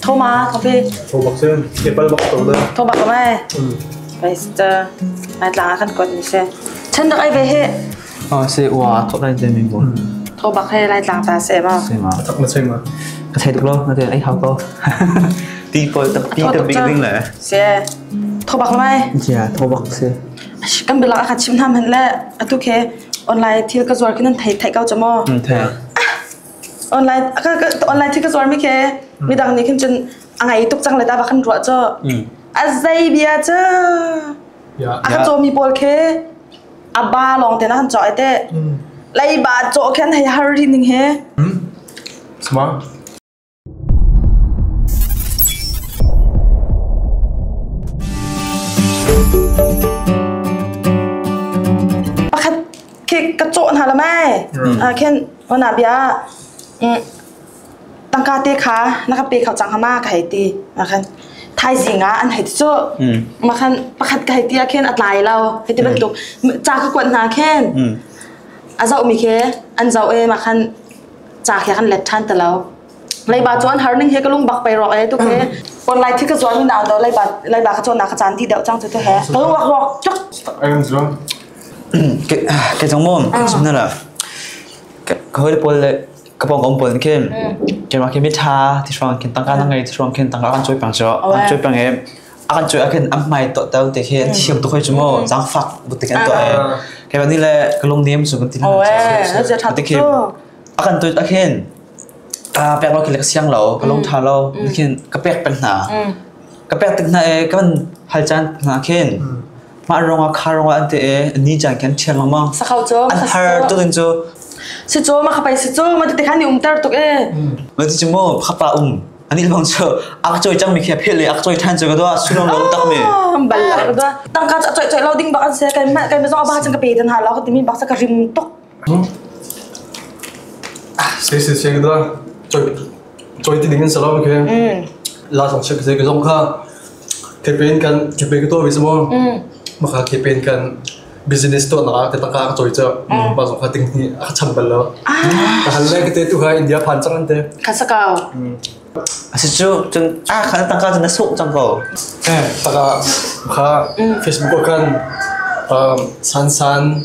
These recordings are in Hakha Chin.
Thoma coffee. Tho bak sen, apple bak to da. Tho bak mai. Bai sta. Ai tlang akan kot ni se. Chen dak ai be he. Ah, se ua thok lai den min bo. Tho bak he lai tlang ta se ma. Se ma thok ma se ma. Ka thei tuk lo, ka thei ai hau ko. Ti poi ta pi ta big ding le. Se tho bak mai. Ya, tho bak se. Kan bilak akha chim tham han le atu ke online thil ka zuar kinan thai thai kau chamo. Thei. Online aka online thil ka zuar mi ke mi dang ni khin chen angai tuk chang le ta bakan ruwa cho. Azai bia cha. Ya. Aka chomi pol ke A ba lawng te na han cawh te. Leiba cawh khan hei har rin ding he. Smart. Pakhat khi ka cawh hna la mai. Ah khen wana bia. Mm. tangka te kha na ka pe kho cang ma ka hei ti makhan thaizing ah an hei ti cu makhan pakhat ka hei ti ah khin a tlai lo hei ti bantuk ca ka kuat hna khin a zoh mi khi an zoh e makhan ca khi kan let than ta lo leiba chuan harning he ka lung bak pai ro e tu ke kon lai thi ka zuan ni naw do leiba leiba ka chuan na ka chan ti deu chang chu te he ka lung wak wak chuk ayang zuan ke ke chang mom sumna la ka hoi pol le ka pawngkam pawl in khin keimah khi mitha ti hruang khin tangka na ngei ti hruang khin tangka kan cui pang cu an cui pang e a kan cui ah khin am mai to tel te khi thiam tuk hoi chu mo zang fak bu te kan to e ke ba ni le ka lung nem chu kan tin ha te khi a kan tui a khin a pek lo khi le ka siang lo ka lung tha lo khin ka pek pen hna ka pek tik hna e kan hal chan hna khin Mah ruangah kha ruangah an te e ni chan khan thiang lengmang. Sakau cho. An har tuk in chu. Si cho ma khapai si cho ma ti khan ni umtar tuk e. Ma ti chumo khapa um. Ani lebang chu ak choi chang mi khe phel le ak choi than chu ka do sunong lo tak mi. Ballar do. Tangka cha choi choi lo ding bakan se kai ma kai ma zo ba chang ka pe tan ha lo ka ti mi bak sa ka rim tok. Seisin siang kita choi ti ding an sa lo ke. La song chep se ke zong kha kepen kan kepe ke to bi samo. Maka kepen kan business to na ka taka ka choi cha. Pa song kha ting ni a cham bal lo. Ka hal le ke te tu ha India phan chang an te. Kasakau. Asi cu cun ah kan taka cun na suk cang ko. Eh, taka ka Facebook kan um, san san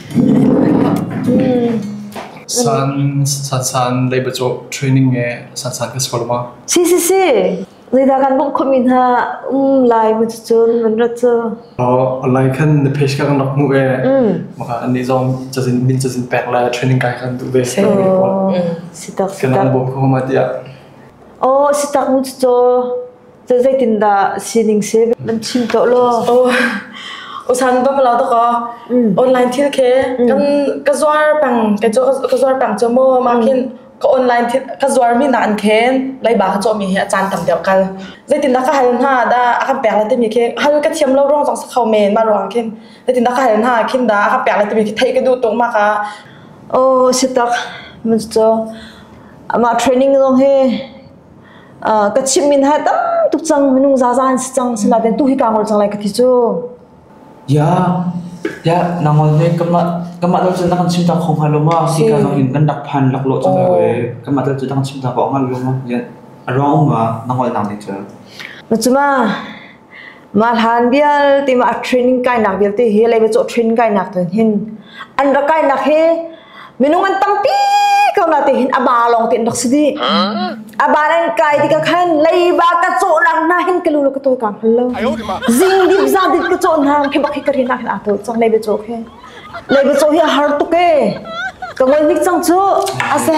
Saan leibacaw training he saan ka sor ma. Si si si. Leida kan bong khomi hna um lai mu cun man rat cu. Online kan na page kan rak mu e. Maka ni zong cazin min cazin pek lai training kai kan tu ve. Si tak si tak. Kan bom ko ma dia. Oh si tak mu cu Zeitindah sining save nan chim to lo? Oh, usan ba pala to ko. Online thil ke kan ka zuar pang ka jo ka zuar pang cho mo ma kin ka online thil ka zuar mi na an khen lai ba ka cho mi hi a chan tam deu kal. Zeitindah ka hal ha da akan pek la ti mi ke hal ka thiam lo rong jong sa khau men ma rong kin. Zeitindah ka hal ha kin da akan pek la ti mi ke thei ka du tung ma ka. Oh, sitak. Manjo. Ama training long he ka chim min ha tam tuk cang minung zaza an si cang sila den tu hi ka ngol cang lai ka ti cu ya ya na ngol ne kama kama lo chu nang chim ta khong ha lo ma si ka no in kan dak phan lak lo chang ko e kama lo chu nang chim ta ko ngal lo ma yen arong ma na ngol nang ni chu na chuma Mah hlan vialte mah a training kainak vialte hi leiba cawh training kainak tu hin an rak kainak hi minung an tampi ko na te hin a ba lawng te rak si di a ba nan kai ti ka khan leiba ka cawh nak na hin ka lu ka to ka hal lo zing dip za dit ka cawh na khi bak hi ka ri na hin a to chang leiba cawh hi leiba cawh hi har tu ke ka ngol nik chang chu ase